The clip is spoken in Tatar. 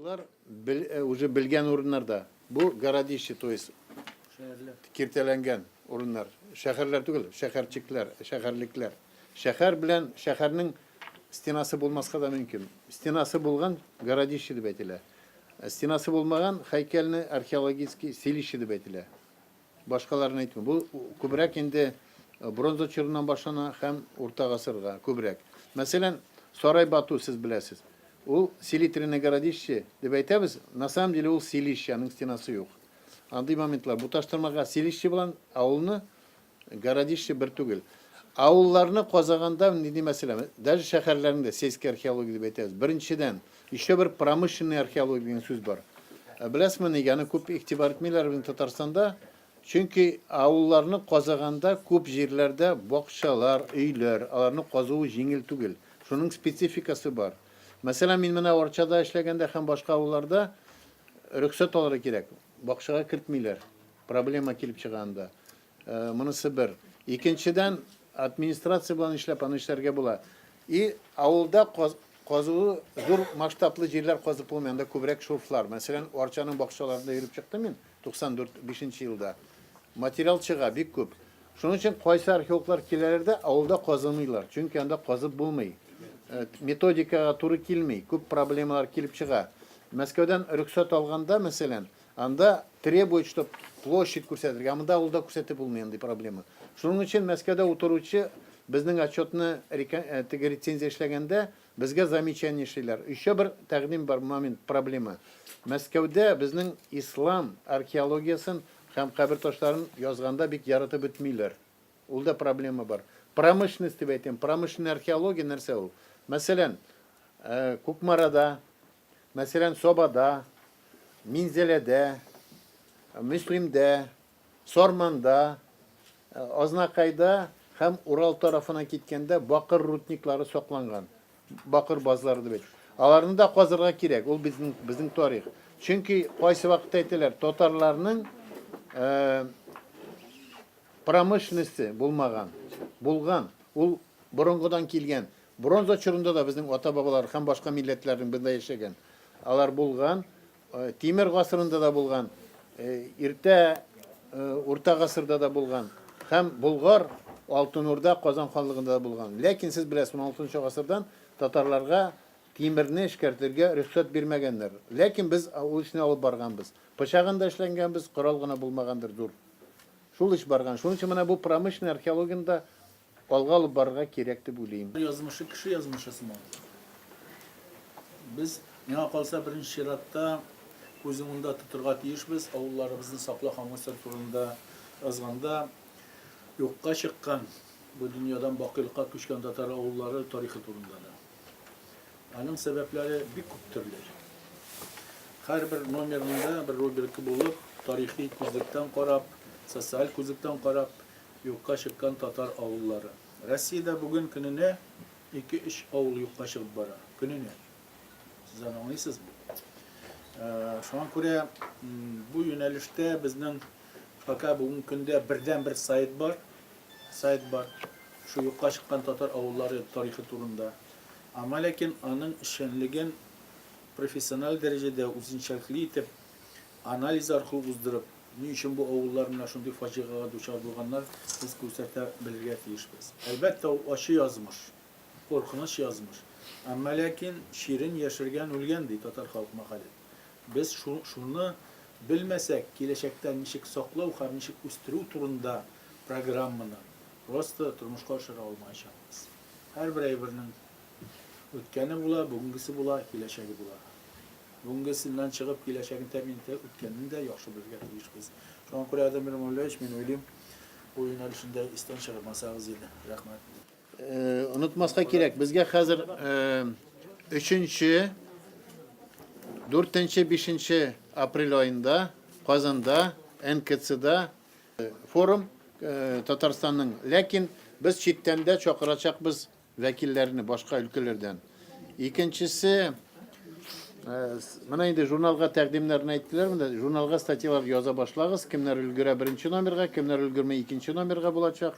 Алар бел, э, уже белгән урыннарда. Бу городище, то есть киртәләнгән урыннар. Шәһәрләр түгел, шәһәрчекләр, шәһәрлекләр. Шәһәр белән шәһәрнең стенасы булмаска да мөмкин. Стенасы булган городище дип әйтелә. Стенасы булмаган һәйкәлне археологический селище дип әйтелә. Башкаларын әйтмим. Бу күбрәк инде бронза чорыннан башлана һәм урта гасырга күбрәк. Мәсәлән, Сарай Бату сез беләсез. Ул селитренное городище дип әйтәбез, на самом деле ул селище, аның стенасы юк. Андый моментлар бу таштырмага селище белән авылны Городище бер түгел. Авылларны казаганда нинди мәсьәлә, даже шәһәрләрне дә сельская археология дип әйтәбез. Беренчедән, еще бер промышленная археология дигән сүз бар. Ә беләсезме, нигә аны күп игътибар итмиләр безнең Татарстанда? Чөнки авылларны казаганда күп җирләрдә бакчалар, өйләр, аларны казуы җиңел түгел. Шуның спецификасы бар. Мәсәлән, мин менә Арчада эшләгәндә һәм башка авылларда рөхсәт алырга кирәк. Бакчага кертмиләр, проблема килеп чыга анда. Монысы бер. Икенчедән, администрация белән эшләп аны эшләргә була. И авылда казуы зур масштаблы җирләр казып булмый, анда күбрәк шурфлар. Мәсәлән, Арчаның бакчаларында йөреп чыктым мин 94 бишенче елда. Материал чыга бик күп. Шуның өчен кайсы археологлар киләләр дә авылда казымыйлар, чөнки анда казып булмый. Методикага туры килми, күп проблемалар килеп чыга. Мәскәүдән рөхсәт алганда, мәсәлән, анда требует, чтоб площадь күрсәтергә, ә монда авылда күрсәтеп булмый андый проблема. Шуның өчен Мәскәүдә утыручы безнең отчетны река теге рецензия эшләгәндә безгә замечание эшлиләр. Өйчә бер тәкъдим бар, момент, проблема. Мәскәүдә безнең ислам археологиясен һәм кабер ташларын язганда бик яратып бетмиләр. Ул да проблема бар. Промышленность дип әйтәм. Промышленный археология нәрсә ул? Мәсәлән, Кукмарада, мәсәлән, Сабада, Минзәләдә, Мөслимдә, Сарманда, Азнакайда һәм Урал тарафына киткәндә бакыр рудниклары сакланган. Бакыр базлары дип әйтәм. Аларны да казырга кирәк. Ул безнең безнең тарих. Чөнки кайсы вакытта әйтәләр, татарларның Промышленносте булмаган, булган, ул борынгыдан килгән. Бронза чорында да безнең ата-бабалар һәм башка милләтләрнең бында яшәгән. Алар булган. Тимер гасырында да булган. Иртә урта гасырда да булган. Һәм Болгар, Алтын Урда, Казан ханлыгында да булган. Ләкин сез беләсез, 16 гасырдан татарларга тимерне эшкәртергә рөхсәт бирмәгәннәр. Ләкин без ул эшне алып барганбыз. Пычагын да эшләнгәнбез, корал гына булмагандыр, зур. Шул эш барган. Шуның өчен менә бу промышленный археологияне дә алга алып барырга кирәк дип уйлыйм. Язмышы кеше язмышы сыман. Без, миңа калса, беренче чиратта күз уңында тотырга тиешбез, авылларыбызны сакла һәм үсер турында язганда юкка чыккан, бу дөньядан бакыйлыкка күчкән татар авыллары тарихы турында да. Аның сәбәпләре бик күп төрле. Һәрбер номерында бер рубрика булып, тарихи күзлектән карап, социаль күзлектән карап, юкка чыккан татар авыллары. Россиядә бүген көненә ике-өч авыл юкка чыгып бара. Көненә. Сез аны аңлыйсызмы? Шуңа күрә бу юнәлештә безнең пока бүгенге көндә бердәнбер сайт бар. Сайт бар, шул юкка чыккан татар авыллары тарихы турында. Аңа ләкин аның эшчәнлеген профессиональ дәрәҗәдә үзенчәлекле итеп, анализ аркылы уздырып, ни өчен бу авыллар менә шундый фаҗигагә дучар булганнар, без күрсәтә белергә тиешбез. Әлбәттә, ул ачы язмыш, куркыныч язмыш. Әмма ләкин чирен яшергән үлгән, ди татар халык мәкале. Без шуны белмәсәк, киләчәктә ничек саклау һәм ничек үстерү турында Программаны просто тормышка ашыра алмаячакбыз. Һәрбер әйбернең үткәне була, бүгенгесе була, киләчәге була. Бүгенгесеннән чыгып, киләчәген тәэмин итә, үткәнен дә яхшы белергә тиешбез. Шуңа күрә, Адәм Мирамуллаевич, мин уйлыйм, бу юнәлешне дә истән чыгармасагыз иде. Рәхмәт. Онытмаска кирәк, безгә хәзер өченче, дүртенче, бишенче апрель аенда Казанда, НКЦда Форум Татарстанның, ләкин без читтән дә чакырачакбыз вәкилләрне башка өлкәләрдән. Икенчесе, менә инде журналга тәкъдимнәрен әйттеләр, менә журналга статьялар яза башлагыз, кемнәр өлгерә беренче номерга, кемнәр өлгерми икенче номерга булачак.